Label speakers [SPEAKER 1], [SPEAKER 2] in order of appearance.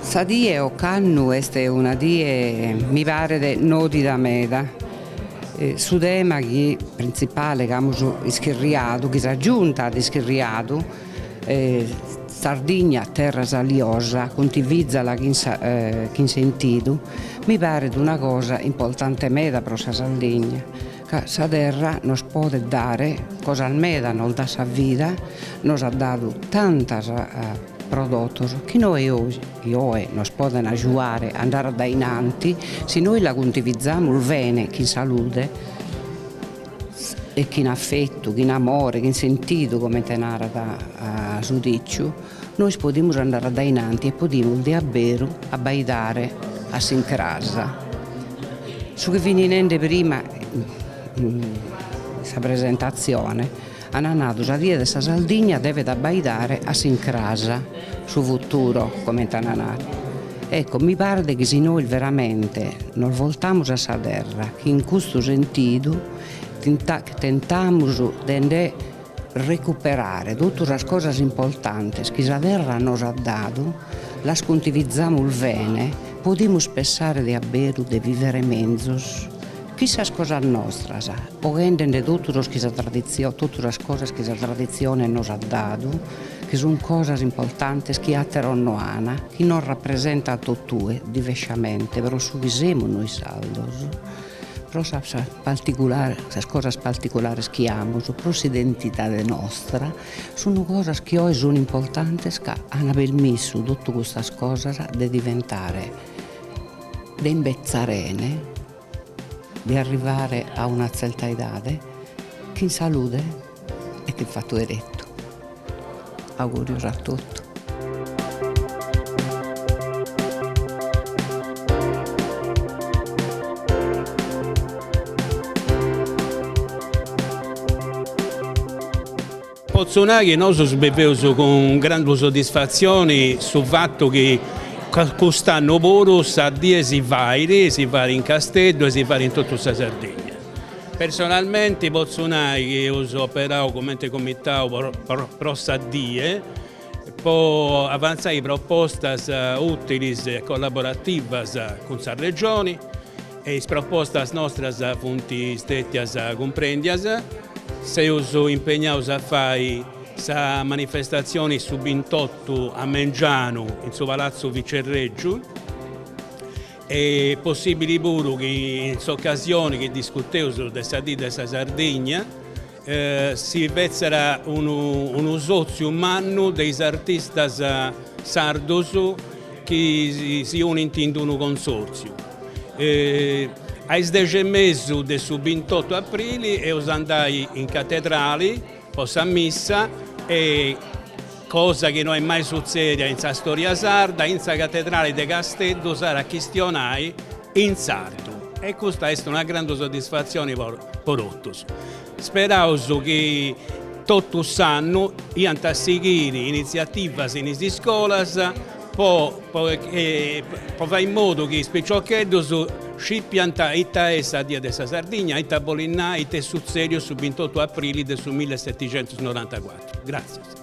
[SPEAKER 1] Sa die ocannu est una die mi paret nodida meda, su tema chi printzipale chi amus ischirriadu, chi sa Giunta at ischirriadu, Sardigna terra saliosa cuntivìzala chin sentidu, mi paret una cosa importante meda pro sa Sardigna Ca sa terra nos podet dare cosas meda, nos dat sa vida, nos at dadu tantos prodotos chi nois oe nos poden agiuare a andare addainanti si nois la cuntivizamus bene chin salude e chin affettu, chin amore, chin sentidu comente narat su diciu. Nois podimus andare addainanti e podimus de a beru abbaidare a s'incrasa. Su chi fini nende prima a sa presentatzione ana nadu sa die de sa Sardigna devet abbaidare a s'incrasa su futuro comente ana nadu. Ecco mi paret chi si nois veramente nos voltamus a sa terra chin custu sentidu tentamus de nde recuperare totu sas cosas importantes chi sa terra nos at dadu, las cuntivizamus bene, podimus pensare de a beru de vivere menzus chin sas cosas nostras, boghende nde totu sas cosas chi sa traditzione nos at dadu, chi sun cosas importantes chi atteros no an, chi nos rappresentan tottue, divesciamente, pro su chi semus nois sardos. pro sas cosas particulares chi amus, pro s'identidade nostra, sun cosas chi oe sun importantes ca an permissu totu custas cosas de diventare, de imbetzarene, de arrivare a una tzerta edade chin salude. Et fatu 'erettu. Augùrios a
[SPEAKER 2] totu. Potzo nai chi nosos biveus cun grandu soddisfatzioni su fatu chi cust'annu puru sa die si fait, si fait in Casteddu e si fait in totu sa Sardigna. Personalmente potzu nai chi eus operau cumenti Comitau pro Sa Die po avantzai propostas ùtilis e collaborativas cun sa Regioni e is propostas nostras funt stètias cumprèndias. Seus impegnaus a fai sa manifestatzioni su bintotu a mengianu in su Palatzu Vicerrègiu. Est possìbili puru chi in s'ocasioni chi discuteus de sa dì de sa Sardigna si fètzera unu sòtziu mannu de is artistas sardus chi si unint in unu consòrtziu. A is dexi e mesu de su bintotu aprili eus a andai in catedrali po sa missa e cosa chi no est mai sutzèdia in sa stòria sarda, in sa catedrale de Casteddu s'at a chistionai in sardu e custa est una grandu soddisfatzioni po totus. Speraus chi totu s'annu iant a sighiri initziativas in is iscolas, po fai in modu chi is piciocheddus scipiant ita est sa Die de sa Sardigna, ita bolit nai, ita est sutzèdiu su bintotu aprili de su milleseticentusnorantacuatru. Gràtzias.